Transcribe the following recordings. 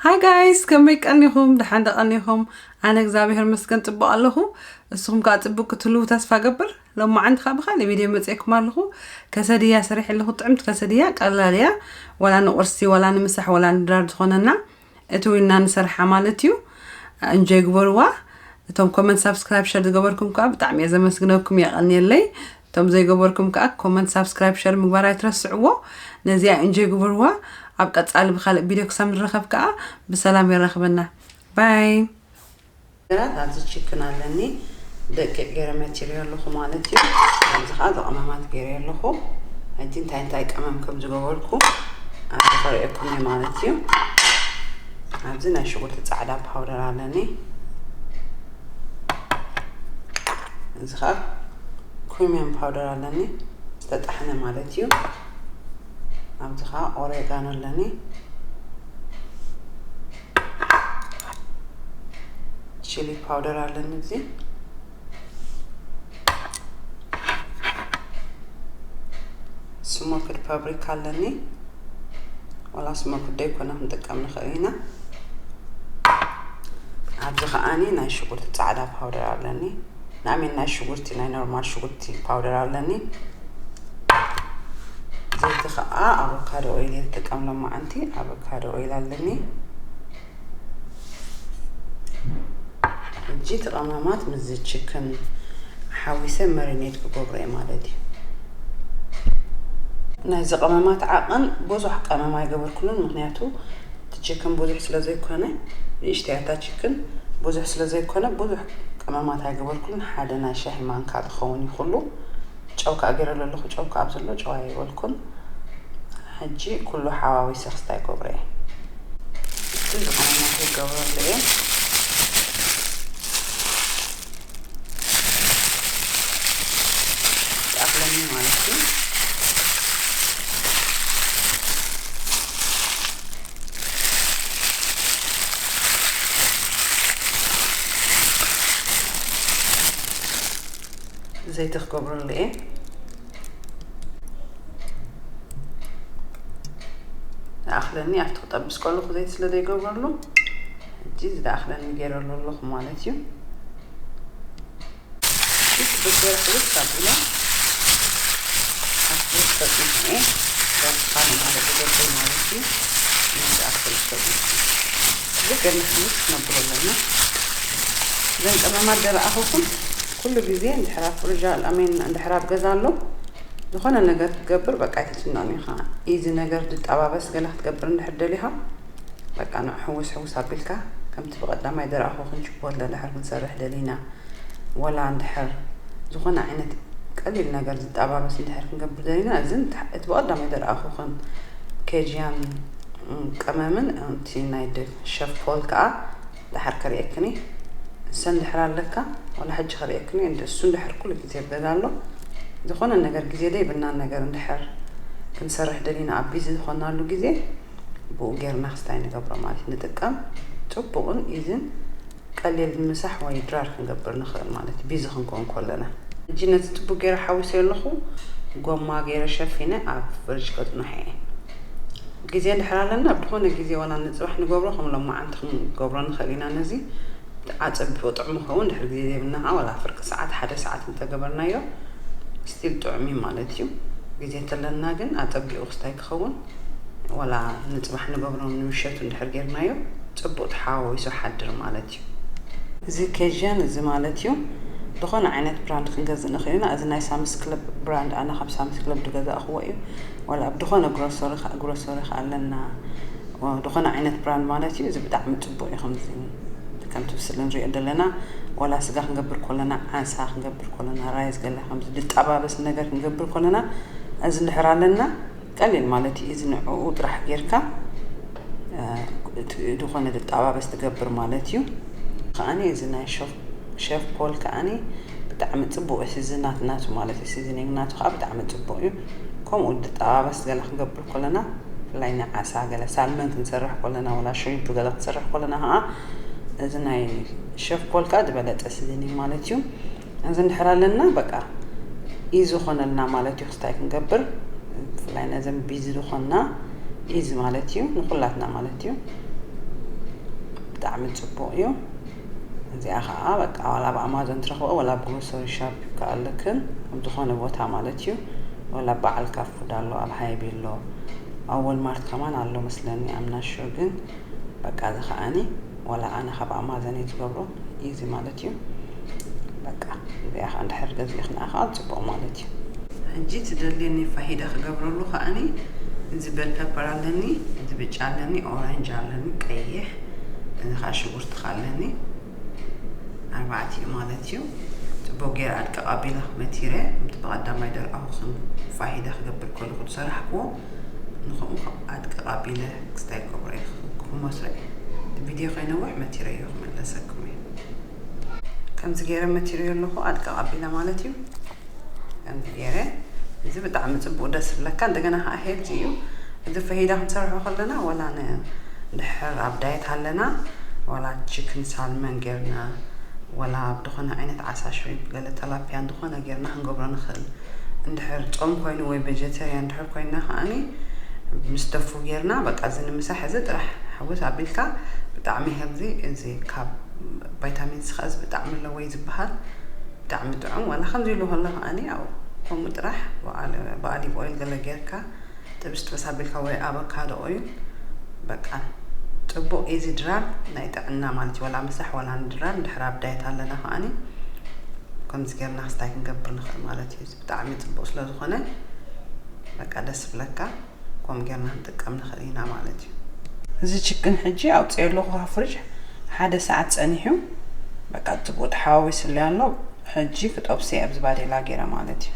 ሃይ ጋይስ ከመይ ቀኒኹም ደሓን ዶ ቀኒኹም ኣነ እግዚኣብሔር መስገን ፅቡቅ ኣለኹ እስኹም ከዓ ፅቡቅ ክትህልው ተስፋ ገብር ሎማዓንቲ ከዓ ብካሊእ ቪድዮ መፅኤኩም ኣለኹ ከሰድያ ሰሪሕ ኣለኹ ጥዕምቲ ከሰድያ ቀላል እያ ዋላ ንቁርሲ ዋላ ንምሳሕ ዋላ ንድራር ዝኾነና እቲ ዊና ንሰርሓ ማለት እዩ እንጆይ ግበርዋ እቶም ኮመንት ሳብስክራይብ ሸር ዝገበርኩም ከዓ ብጣዕሚ እየ ዘመስግነኩም የቀንየለይ እቶም ዘይገበርኩም ከኣ ኮመንት ሳብስክራይብ ሸር ምግባር ኣይትረስዕዎ ነዚኣ ኢንጆይ ግበርዋ ኣብ ቀጻሊ ብካልእ ቢድዮ ክሳብ ንራከብ ከኣ ብሰላም የራክበና ባይ። ነገራት ኣዚ ቺክን ኣለኒ ደቂቅ ገረ መቲረዮ ኣለኩ ማለት እዩ ኣዚ ከኣ እዚ ቀመማት ገረዮ ኣለኩ ሕጂ እንታይ እንታይ ቀመም ከም ዝገበርኩ ኣዚ ከርእየኩም እየ ማለት እዩ ኣዚ ናይ ሽጉርቲ ጻዕዳ ፓውደር ኣለኒ እዚ ከኣ ክሪሚየም ፓውደር ኣለኒ ዝተጣሕነ ማለት እዩ ኣብዚ ከኣ ኦሬጋኖ ኣለኒ ቺሊ ፓውደር ኣለኒ እዚ ስሞክድ ፓብሪካ ኣለኒ ዋላ ስሞክድ ደይኮነ ክንጥቀም ንኽእል ኢና ኣብዚ ከዓኒ ናይ ሽጉርቲ ፃዕዳ ፓውደር ኣለኒ ናይ ኣሜን ናይ ሽጉርቲ ናይ ኖርማል ሽጉርቲ ፓውደር ኣለኒ ዘይቲ ከዓ ኣቮካዶ ኦይል የጥቀም ሎማዓንቲ ኣቮካዶ ኦይል ኣለኒ እጂ ተቐማማት ምዝ ችክን ሓዊሰ መሪኔት ክገብሮ እየ ማለት እዩ ናይዚ ቀመማት ዓቕን ብዙሕ ቀመም ኣይገበርኩሉን ምክንያቱ እቲ ቺክን ብዙሕ ስለ ዘይኮነ ንእሽተይ ኣታ ቺክን ብዙሕ ስለ ዘይኮነ ብዙሕ ቀመማት ኣይገበርኩሉን ሓደ ናይ ሻሂ ማንካ ዝኸውን እዩ ኩሉ ጨው ከኣ ገይረሉ ኣለኹ ጨው ከኣ ኣብዘሎ ጨው ኣይበልኩን ሕጂ ኩሉ ሓዋዊሰ ክስታይ ይገብሮ እየ እቲ ዝቐመማት ይገብረሉ እየ ይኣኽለኒ ማለት እዩ ዘይቲ ክገብረሉ እየ ይኣኽለኒ ኣብቲ ክጠብስ ከለኹ ዘይቲ ስለ ዘይገብረሉ ሕጂ ዝለኣኽለኒ ጌረሉ ኣለኹ ማለት እዩ። ሕጂ ክብገር ሕልፍ ካብ ኢለ ኣብቲ ዝፈጥንኩምኡ ዳርትካ ንማልእ ዝገብር ማለት እዩ። ነዚ ኣክል ዝፈጥንኩ ክብገር ንሕልፍ ክነብሎ ኣለና። እዘን ቀመማት ደለኣኹኩም ኩሉ ግዜ እንድሕር ኣብ ፍርዣ ኣሜን እንድሕር ኣብ ገዛ ኣሎ ዝኾነ ነገር ክትገብር በቃ ኣይትጭነቕን ኢኻ። ኢዚ ነገር ድጣባበስ ገለ ክትገብር እንድሕር ደሊኻ በቃ ንዑ ሕውስ ሕውስ ኣቢልካ ከምቲ ብቀዳማይ ድራኣኹ ክንጭቦ ለድሕር ክንሰርሕ ደሊና ወላ እንድሕር ዝኾነ ዓይነት ቀሊል ነገር ዝጣባበስ እንድሕር ክንገብር ደሊና እዚ እቲ ብቀዳማይ ድራኣኹ ከም ኬጂያን ቀመምን እቲ ናይ ሸፍ ፖል ከኣ ድሓር ከርእየክን እየ እሰ እንድሕር ኣለካ ወላ ሕጂ ከርእየክን እየ እሱ እንድሕር ኩሉ ግዜ ይበል ኣሎ ዝኾነ ነገር ግዜ ደይብና ነገር እንድሕር ክንሰርሕ ደሊና ኣቢዚ ዝኾናሉ ግዜ ብኡ ጌርና ክስታይ ንገብሮ ማለት ንጥቀም ጽቡቕን ኢዝን ቀሊል ምሳሕ ወይ ድራር ክንገብር ንኽእል ማለት እዩ ቢዚ ክንከውን ኮለና። ሕጂ ነቲ ጽቡቕ ጌረ ሓዊሰዮ ኣለኹ ጎማ ጌረ ሸፊነ ኣብ ፍርጅ ከጽንሖ እየ ጊዜ እንድሕር ኣለና ኣብ ድኾነ ጊዜ ወላ ንጽባሕ ንገብሮ ከም ሎማዓንቲ ክንገብሮ ንኽእል ኢና ነዚ ኣጸቢቁ ጥዑም ይኸውን እንድሕር ጊዜ ዘይብልና ከኣ ወላ ፍርቂ ሳዓት ሓደ ሳዓት እንተገበርናዮ ስቲል ጥዑም እዩ ማለት እዩ ጊዜ ተለና ግን ኣጸቢቁ ክስታይ ክኸውን ዋላ ንጽባሕ ንገብሮ ንምሸቱ እንድሕር ጌርናዮ ጽቡቅ ተሓዋዊሱ ሓድር ማለት እዩ። እዚ ኬዥያን እዚ ማለት እዩ ድኾነ ዓይነት ብራንድ ክንገዝእ ንኽእል ኢና እዚ ናይ ሳምስ ክለብ ብራንድ ኣነ ካብ ሳምስ ክለብ ድገዛእኽዎ እዩ ዋላ ኣብ ድኾነ ግሮሶሪ ካኣ ግሮሶሪ ካኣ ኣለና ድኾነ ዓይነት ብራንድ ማለት እዩ እዚ ብጣዕሚ ጽቡቅ እዩ ከምዚ ከምቲ ብስሊ ንሪኦ ደለና ዋላ ስጋ ክንገብር ኮለና ዓሳ ክንገብር ኮለና ራይዝ ገለ ከምዚ ድጣባበስ ነገር ክንገብር ኮለና እዚ እንድሕር ኣለና ቀሊል ማለት እዩ እዚ ንዕኡ ጥራሕ ጌርካ ድኾነ ድጣባበስ ትገብር ማለት እዩ። ከኣኒ እዚ ናይ ሸፍ ፖል ከኣኒ ብጣዕሚ ጽቡቅ እዩ ሲዝናት ናቱ ማለት እዩ ሲዝኒንግ ናቱ ከኣ ብጣዕሚ ጽቡቅ እዩ ከምኡ ድጣባበስ ገለ ክንገብር ኮለና ብፍላይ ናይ ዓሳ ገለ ሳልመን ክንሰርሕ ኮለና ወላ ሽሪምፕ ገለ ክንሰርሕ ኮለና ከኣ እዚ ናይ ሸፍ ፖል ከኣ ድበለጸ ሲዝኒንግ ማለት እዩ እዚ እንድሕር ኣለና በቃ ኢዚ ኾነልና ማለት ዩ ክስታይ ክንገብር ብፍላይ ነዘም ቢዚ ዝኾንና ኢዚ ማለት ዩ ንኹላትና ማለት ዩ ብጣዕሚ ጽቡቕ ዩ እዚኣ ከዓ በቃ ዋላ ኣብ ኣማዞን ትረኽበ ዋላ ኣብ ግሮሰሪ ሻፕ ይከኣለክን ኣብ ዝኾነ ቦታ ማለት ዩ ወላ በዓል ካፉድ ኣሎ ኣብ ሃይቢ ኣሎ ኣብ ወልማርት ከማን ኣሎ መስለኒ ኣምናሹር ግን በቃ እዚ ከዓኒ ወላ ኣነ ካብ ኣማዘን እየ ዝገብሮ እዩ እዚ ማለት እዩ በቃ እዚኣ ከዓ እንድሕር ገዚእኽና ከዓ ፅቡቅ ማለት እዩ። ሕጂ ትደልየኒ ፋሂዳ ክገብረሉ ከኣኒ እዚ ቤል ፐፐር ኣለኒ እዚ ብጫ ኣለኒ ኦረንጅ ኣለኒ ቀይሕ እዚ ከዓ ሽጉርቲ ኣለኒ ኣርባዕተ እዩ ማለት እዩ ፅቡቅ ገይረ ኣድቅቅ ኣቢለ መቲረ እቲ ብቀዳማይ ደርኣኹ ፋሂዳ ክገብር ከለኹ ዝሰራሕክዎ ንኹም ኣድቂ ቐቢለ ክስታይ ኮብሮ ይኽኽብኩኹም መስርዕ እቲ ቪድዮ ከይነውሕ መቲረዮ ክምለሰኩም እየ ከምዚ ገይረ መቲረዮ ኣለኹ ኣድቂ ቐቢለ ማለት እዩ ከምዚ ገይረ እዚ ብጣዕሚ ጽቡቅ ደስ ዝብለካ እንደገና ከዓ ሄልዚ እዩ እዚ ፈሂዳ ክንሰርሖ ከለና ወላ ንድሕር ኣብ ዳየት ኣለና ወላ ቺክን ሳልመን ጌርና ወላ ብድኾነ ዓይነት ዓሳ ሽሪምፕ እንተሃለወ ተላፕያን ዝኾነ ጌርና ክንገብሮ ንኽእል እንድሕር ጾም ኮይኑ ወይ በጀተርያ እንድሕር ኮይና ከኣኒ ምስ ደፉ ጌርና በቃ እዚ ንምሳ ሕዚ ጥራሕ ሕውስ ኣቢልካ ብጣዕሚ ሄልዚ እዚ ካብ ቫይታሚን ሲ ከኣ ብጣዕሚ ኣለወይ ዝበሃል ብጣዕሚ ጥዑም ዋላ ከምዚ ኢሉ ከሎ ከኣኒ ኣብኡ ከምኡ ጥራሕ ብኣሊቭ ኦይል ገለ ጌርካ ጥብስ ጥብስ ኣቢልካ ወይ ኣበካዶ ኦይል በቃ ጽቡቅ ኢዚ ድራር ናይ ጥዕና ማለት እዩ ወላ ምሳሕ ወላ ንድራር ድሕር ኣብ ዳየት ኣለና ከኣኒ ከምዚ ጌርና ክስታይ ክንገብር ንኽእል ማለት እዩ ብጣዕሚ ጽቡቅ ስለ ዝኾነ በቃ ደስ ብለካ ከምኡ ጌርና ክንጥቀም ንኽእል ኢና ማለት እዩ እዚ ችክን ሕጂ ኣውፅኦ ኣለኹ ካብ ፍርጅ ሓደ ሰዓት ጸኒሑ በቃ ጽቡቅ ተሓዋዊስለይ ኣሎ ሕጂ ክጠብሰ ኣብዚ ባዴላ ገይረ ማለት እዩ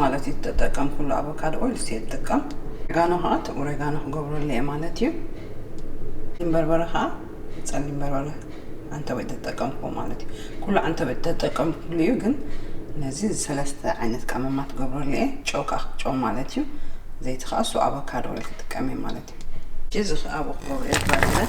ማለት እዩ ትጠቀም ኩሉ ኣቮካዶ ኦይል እየ ትጥቀም ኦሬጋኖ ከዓ እቲ ኦሬጋኖ ክገብረሉ እየ ማለት እዩ በርበረ ከዓ ፀሊም በርበረ ኣንተበ ተጠቀምኩ ማለት እዩ ኩሉ ኣንተበ ተጠቀምኩሉ እዩ ግን ነዚ ሰለስተ ዓይነት ቀመማት ገብረሉ እየ ጨው ከዓ ጨው ማለት እዩ ዘይቲ ከዓ እሱ ኣቮካዶ ኦይል ክጥቀም እየ ማለት እዩ እዚ ከዓ ኣብኡ ክገብረ እየ ባለ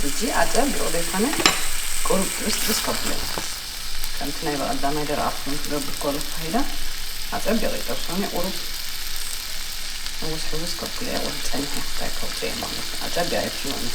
ሕጂ ኣጸር ድርቕ ዘይኮነ ቁሩብ ጥብስጥብስ ከብሎ እዩ። ከምቲ ናይ በቐዳማይ ደረቓ ፍኑን ክገብር ከሎ ፋሂዳ ኣጸቢቐ ይጠብሶን እየ ቁሩብ ሕውስ ሕውስ ከብሎ እየ ወህ ጸኒሐ እንታይ ከውጽእ እየ ማለት ኣጸቢቐ ኣይብስሎን እየ።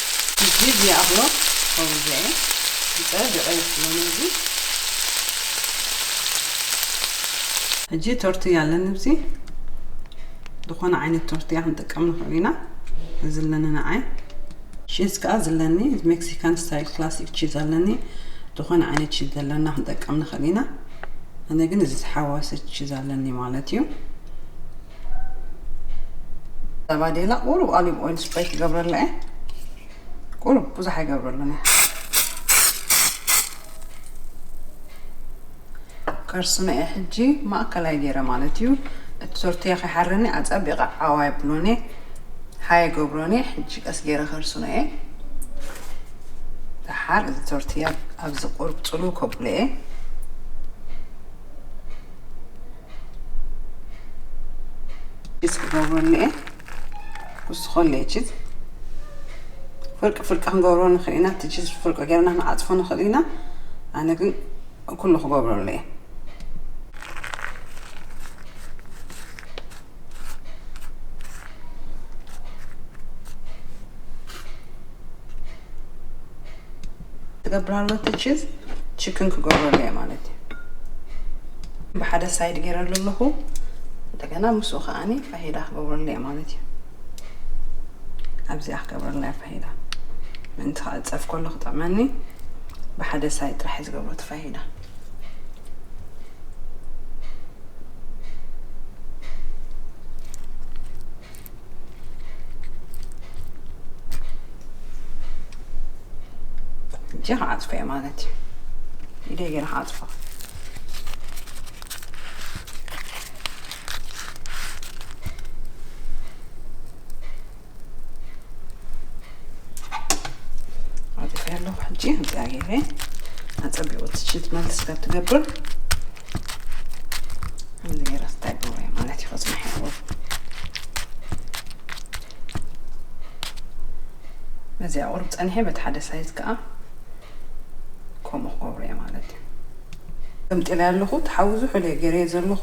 ህጂ ዲያብሎ ኦውያይ ብጻይ ድዕይ ክብሎ ነዚ። ሕጂ ቶርትያ ኣለኒ ብዚ ድኾነ ዓይነት ቶርትያ ክንጥቀም ንኽእል ኢና እዚ ኣለኒ ንዓይ። ቺዝ ከኣ ዝለኒ ሜክሲካን ስታይል ክላሲክ ቺዝ ኣለኒ ድኾነ ዓይነት ቺዝ ዘለና ክንጠቀም ንኽእል ኢና ኣነ ግን እዚ ዝሓዋሰ ቺዝ ኣለኒ ማለት እዩ። ባዴላ ቁሩብ ኦሊቭ ኦይል ስፕሬይ ክገብረላ እየ ቁሩብ ብዙሕ ኣይገብረሉን እየ ከርስኖ እየ ሕጂ ማእከላይ ገይረ ማለት እዩ እቲ ቶርትያ ከይሓረኒ ኣፀቢቐ ዓዋ የብሎን እየ ሓየ ገብሮን እየ ሕጂ ቀስ ገይረ ከርስኖ እየ ደሓር እዚ ቶርትያ ኣብዚ ቁሩብ ፅሉ ከብሎ እየ ጅስ ክገብሮ እኒኤ ክውስኾ ኣለየ ጅስ ፍርቂ ፍርቂ ክንገብሮ ንኽእል ኢና እቲ ጅስ ፍርቂ ጌርና ክንዓፅፎ ንኽእል ኢና ኣነ ግን ኩሉ ክገብሮ ኣለየ ትገብራሉ ትችዝ ችክን ክገብረሉ እየ ማለት እዩ ብሓደ ሳይድ ገይረሉ ኣለኹ እንደገና ምስኡ ከዓኒ ፋሂዳ ክገብረሉ እየ ማለት እዩ ኣብዚኣ ክገብረላ እየ ፋሂዳ ምእንቲ ከዓ ፀፍ ከሎ ክጥዕመኒ ብሓደ ሳይድ ጥራሕ እዩ ዝገብሮ እቲ ፋሂዳ እጅ ክዓፅፎ እየ ማለት እዩ ኢደይ ገይረ ክዓፅፎ ዓፅፌ ኣለኹ ሕጂ እዚኣ ገይረ ኣፀቢቑ ትችት መልስ ከትገብር እዚኣ ቁርብ ፀኒሐ በቲ ሓደ ሳይዝ ከዓ ከምኡ ክገብሩ እየ ማለት እዩ ገምጢለ ኣለኹ ተሓዊ ዝሑለ ገይረ ዘለኹ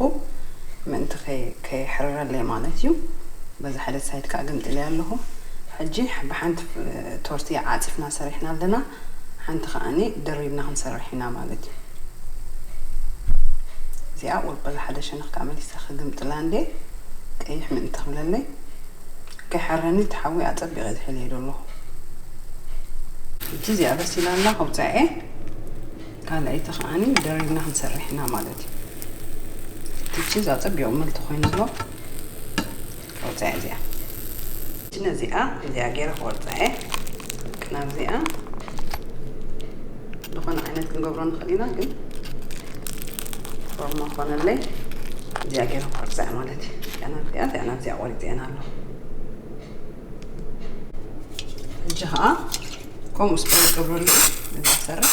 ምእንቲ ከይሕረረለይ ማለት እዩ በዚ ሓደ ሳይድ ከዓ ገምጢለ ኣለኹ ሕጂ ብሓንቲ ቶርቲ ዓጺፍና ሰሪሕና ኣለና ሓንቲ ከኣኒ ደሪብና ክንሰርሕ ኢና ማለት እዩ እዚኣ ወልቆ ዝሓደ ሸነኽ ከኣ መሊሰ ክግምጥላ እንዴ ቀይሕ ምእንቲ ክብለለይ ከይሓረኒ እቲ ሓዊ ኣጸቢቀ እየ ዝሕልየዶ ኣለኹ እቲ እዚኣ በሲላ ኣላ ከውጽኣ እየ ካልኣይቲ ከኣኒ ደሪብና ክንሰርሕ ኢና ማለት እዩ እቲ ቺዝ ኣጸቢቁ ምልቲ ኮይኑ ኣሎ ቆርጸያ እዚኣ ሕጂ ነዚኣ እዚኣ ጌረ ክቆርጻየ ቅናት እዚኣ ዝኾነ ዓይነት ክንገብሮ ንኽእል ኢና ግን ፎርማ ኮነለይ እዚኣ ጌረ ክቆርጻያ ማለት እዩ እዚኣ ናብ እዚኣ እዚኣ ናብ እዚኣ ቆሪጸየን ኣለኹ ሕጂ ከዓ ከምኡ ስፖርት ገብረሉ እዛ ሰርሕ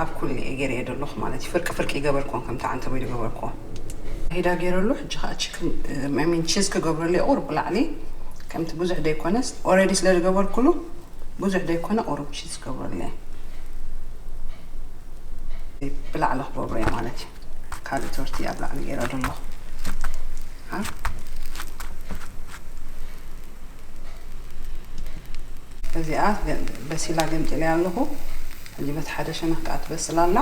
ኣብ ኩሉ እየ ገይረዮ ደለኩ ማለት እዩ ፍርቂ ፍርቂ ይገበርክወን ከምቲ ዓንተቦይ ድገበርክወን። ሂዳ ገይረሉ ሕጂ ከኣ ቺክን I mean ቺዝ ክገብረሉ እየ ቁሩብ ብላዕሊ ከምቲ ብዙሕ ደይኮነስ ኦረዲ ስለ ድገበርኩሉ ብዙሕ ደይኮነ ቁሩብ ቺዝ ክገብረሉ እየ ብላዕሊ ክገብሮ እየ ማለት እዩ ካልእ ቶርትያ ኣብ ላዕሊ ገይረ ደለኩ ኣ እዚኣ በሲላ ገምጢለያ ኣለኩ። እንዲህ በቲ ሓደ ሸነኽ ከኣ ትበስል ኣላ።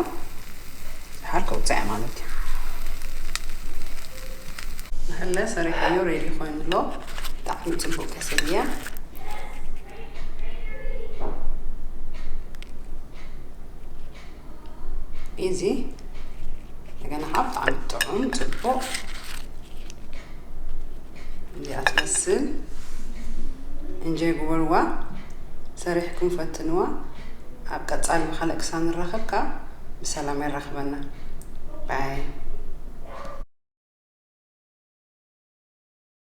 ደሓር ከውጽኣ እያ ማለት እዩ። ንሕለ ሰሪሐዮ ሬዲ ኮይኑ ኣሎ ብጣዕሚ ጽቡቅ ከሰል እያ። ኢዚ እንደገና ከኣ ብጣዕሚ ጥዑም ጽቡቅ እዚኣ ትመስል እንጆይ ግበርዋ ሰሪሕኩም ፈትንዋ ኣብ ቀጻሊ ብካልእ ክሳብ ንራከብ ከኣ ብሰላም የራክበና ባይ።